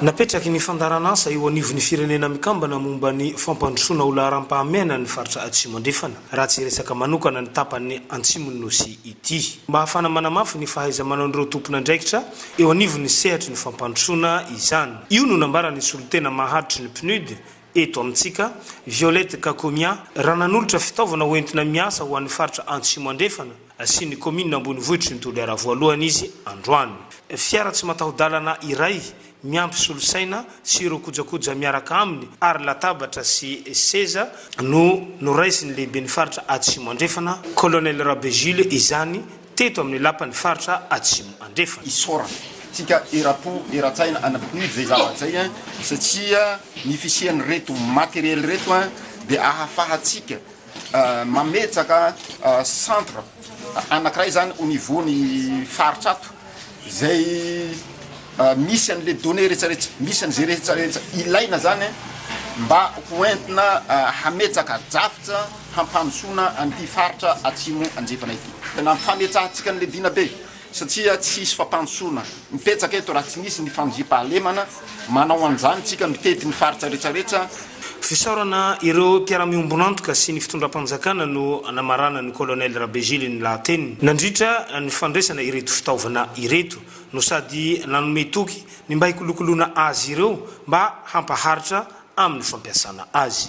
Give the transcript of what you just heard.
Napetraky ny fandaharan'asa eo anivon'ny Firenena Mikambana momba ny fampandrosoana ho laharam-pahamehana ny faritra Atsimo Andrefana, raha tsy resaka manokana ny tapany Antsimon'ny Nosy ity. Mba hahafana manamafy ny fahaiza-manaon'ireo tompon'andraikitra eo anivon'ny sehatry ny fampandrosoana izany. Io no nambaran'ny solontena maharitry ny PNUD, Eto amintsika, Violette Kakomia, raha nanolotra fitaovana ho entina miasa ho an'ny faritra Antsimo Andrefana sy ny kaominina ambonivohitry ny Toliara voalohany izy androany. Fiara tsy mataho-dalana iray miampy solosaina sy ireo kojakoja miaraka aminy ary latabatra sy seza no noraisin'ny lehiben'ny faritra Atsimo Andrefana, Colonel Rabe Jules izany teto amin'ny Lapan'ny Faritra Atsimo Andrefana. isaorana tsika erapo eratsaina any amin'ny PNUD zay zavatra zay an satsia ny fisian'ireto matériel ireto an dia ahafahatsika mametraka centre anakiray zany au niveau ny faritra ato zay misy anle données rehetrarehetra misy anze rehetrarehetra ilaina zany mba ho entina hametraka drafitra hampandrosoana an'ity faritra atsimo andrefana ity. Tena ampifametsahantsika ny Ledina be satria tsy hisy fampandrosoana mipetraka eto raha tsy misy ny fandriampahalemana manao an'izany tsika mitety ny faritra retraretra. Fisaorana ireo mpiara-miombon'antoka sy ny fitondram-panjakana no namarana ny Colonel Rabejily ny lahateniny nandritra ny fandraisana ireto fitaovana ireto no sady nanome toky ny mba hikolokoloana azy ireo mba hampaharitra amin'ny fampiasana azy.